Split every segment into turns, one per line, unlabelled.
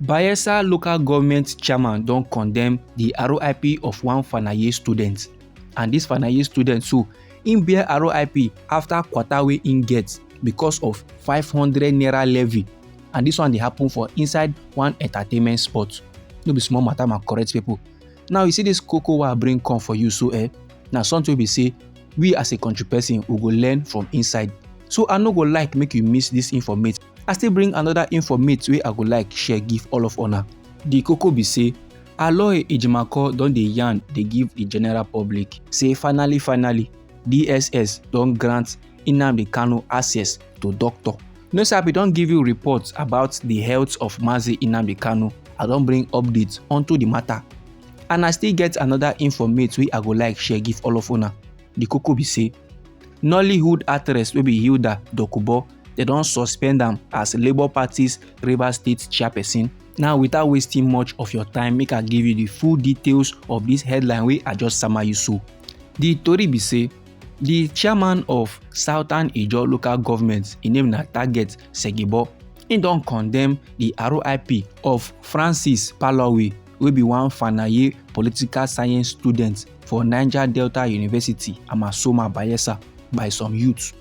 Bayelsa local government chairman don condemn the RIP of one Fanaye student. And this Fanaye student too, im bear RIP after quarter wey im get because of 500 naira levy. And this one dey happen for inside one entertainment spot. No be small matter ma correct people. Now you see this koko wey I bring come for you so eh, na something wey be say we as a country person we go learn from inside. So I no go like make you miss this informate. i still bring another informate wey i go like share give all of una di koko be say aloy ejimakor don dey yarn dey give di general public say finally finally dss don grant nnamdi kanu access to doctor no sir i don give you reports about di health of mazi nnamdi kanu i don bring updates onto di matter and i still get another informate wey i go like share give all of una the koko be say nollywood actress wey be hilda dokubo dem don suspend am as labour party's rivers state chairperson now without wasting much of your time make i give you the full details of this headline wey i just sama you so the tori be say the chairman of southern ijaw local government im name na target segibo im don condemn the rip of francis palowe wey be one fanaye political science student for niger delta university amasoma bayelsa by some youths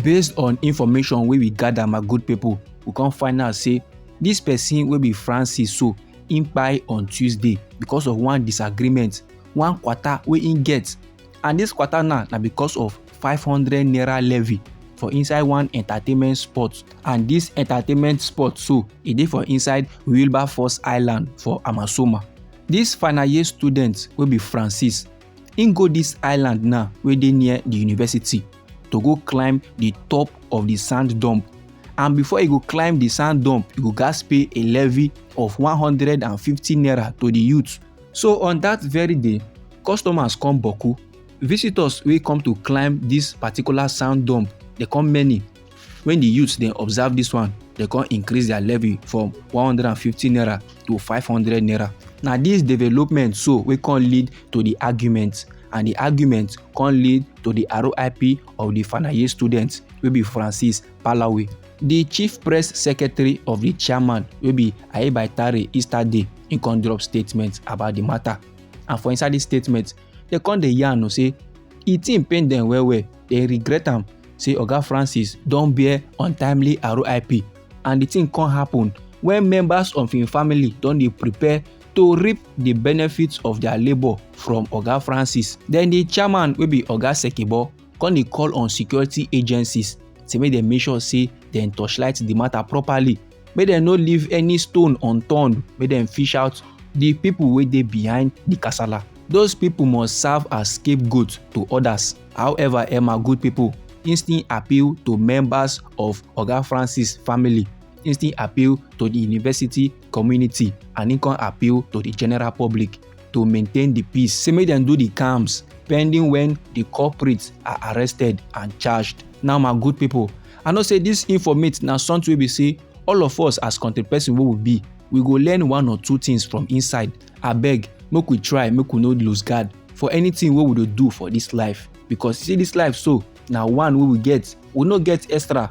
based on information wey we gather my good people we come find out say this person wey be francis so im kpai on tuesday because of one disagreement one kwata wey im get and this kwata now na because of 500 naira levy for inside one entertainment spot and this entertainment spot so e dey for inside wilberforce island for amasoma This final year student wey be francis im go this island now wey dey near the university to go climb the top of the sand dump and before e go climb the sand dump e go gats pay a levy of 150 naira to the youth so on that very day customers come boku visitors wey come to climb this particular sound dome dey come many when the youths dey observe this one dey come increase their levy from 150 naira to 500 naira na this development so wey come lead to the argument and the argument come lead to the RIP of the Fanaye students wey be Francis Palawe. The chief press secretary of the chairman wey be Ayebaitare Easter Day im come drop statement about the matter and for inside this statement dem come dey yarn o say e thing pain dem well well dem regret am say oga francis don bear untimely rip and the thing come happen when members of im family don dey prepare to reap the benefits of their labour from oga francis then the chairman wey be oga sekibo come dey call on security agencies say make dem make sure say dem torchlight the matter properly make dem no leave any stone unturned make dem fish out the people wey dey behind the kasala those people must serve as scapegoat to others however emma good people instant appeal to members of oga francis family instant appeal to the university community and instant appeal to the general public to maintain di peace say make dem do di camps pending wen di culprits are arrested and charged now my good pipo i know say dis informate na something wey be say all of us as country person wey we be we go learn one or two things from inside abeg make we try make we no lose guard for anything wey we dey do for dis life because see dis life so na one wey we get we no get extra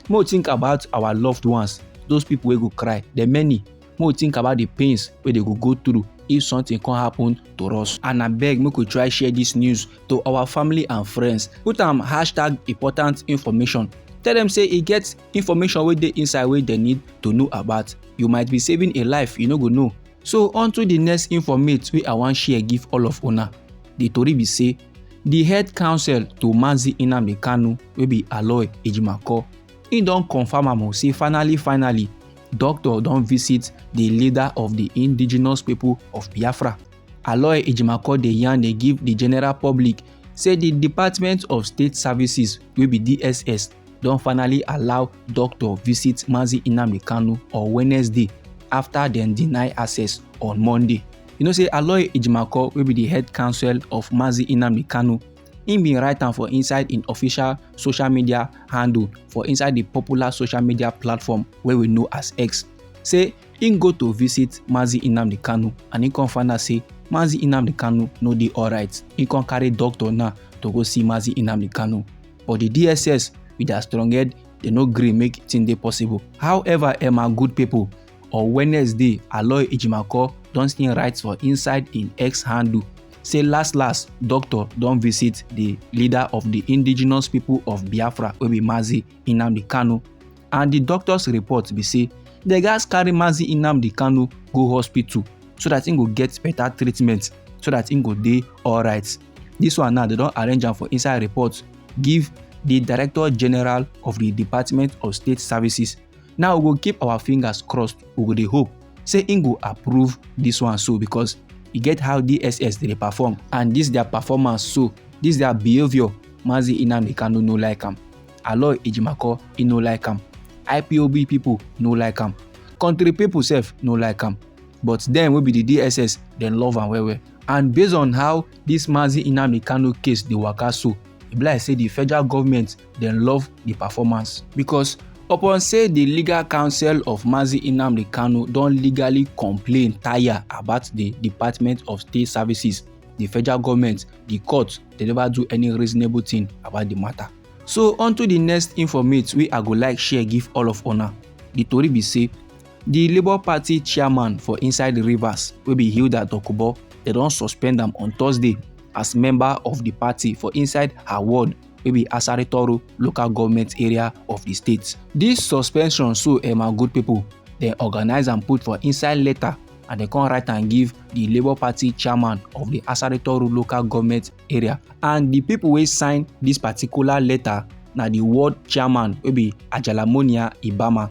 make we think about our loved ones those people wey go cry dem many make we think about the pains wey dey go go through if something come happen to us and abeg make we try share this news to our family and friends put am hashtag important information tell them say e get information wey dey inside wey dem need to know about you might be saving a life you no go know so on to the next informate wey i wan share give all of una the tori be say the head counsel to mazi nnamdi kanu wey be aloy ejimakor im don confam am o say finally finally Doctor don visit the leader of the indigenous people of Biafra. Aloy Ejimakor dey yarn dey give the general public say the Department of State Services wey be DSS don finally allow doctor visit Mazi Nnamdi Kanu on Wednesday after dem deny access on Monday. You know say Aloy Ejimakor wey be the head counsel of Mazi Nnamdi Kanu Im bin write am for inside im official social media handle for inside di popular social media platform wey we know as X say im go to visit Mazi Nnamdi Kanu and im come find out say Mazi Nnamdi Kanu no dey alright. Im come carry doctor now to go see Mazi Nnamdi Kanu. But di DSS with their strong head dey no gree make thing dey possible. However, Emma good pipo On Wednesday, Aloy Ejimakor don still write for inside im X handle say last last doctor don visit di leader of di indigenous pipo of Biafra wey be Mazi Nnamdi Kanu and di doctors report be say dem gatz carry Mazi Nnamdi Kanu go hospital so dat im go get beta treatment so dat im go dey alright. Dis one now dem don arrange am for inside report give di director general of di Department of State Services now we go keep our fingers crossed we go dey hope say im go approve dis one so because e get how dss dey perform and dis their performance so dis their behaviour mazi inamdi kanu no like am aloy ejimako e no like am ipob pipo no like am country pipo sef no like am but dem wey be di dss dem love am well well and based on how dis mazi inamdi kanu case dey waka so e be like say di federal government dem love di performance because upon say di legal counsel of mazi nnamdi kanu don legally complain tire about di department of state services di federal goment di court dey neva do any reasonable tin about di mata. so onto di next informate wey i go like share give all of una di tori be say di labour party chairman for inside rivers wey be hilda dokubo dem don suspend am on thursday as member of di party for inside her ward. wey be Asari Toro local government area of di state. Dis suspension so eh my good pipo, dem organise am put for inside letter and dem come write am give di Labour Party chairman of di Asari Toro local government area and di pipo wey sign dis particular letter na di ward chairman wey be Ajalamonia Ibama.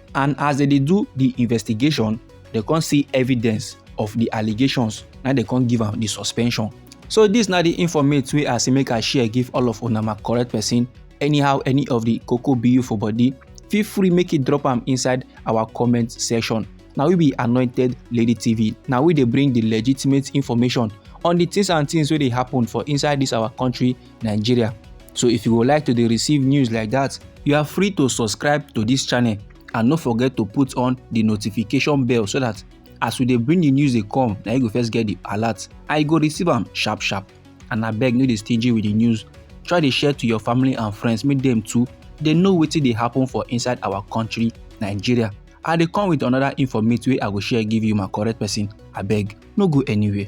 and as dem dey do the investigation dem come see evidence of the allegations na dem come give am the suspension so this na the informate wey i say make i share give all of una my correct person anyhow any of the koko bu for body feel free make you drop am inside our comment section na we be anointed lady tv na we dey bring the legitimate information on the things and things wey dey happen for inside this our country Nigeria. So if you would like to receive news like that, you are free to subscribe to this channel and no forget to put on the notification bell so that as we dey bring the news dey come na you go first get the alert and you go receive am sharp sharp and abeg no dey stingy with the news try dey share to your family and friends make dem too dey know wetin dey happen for inside our country nigeria i dey come with another informate wey i go share give you my correct person abeg no go anywhere.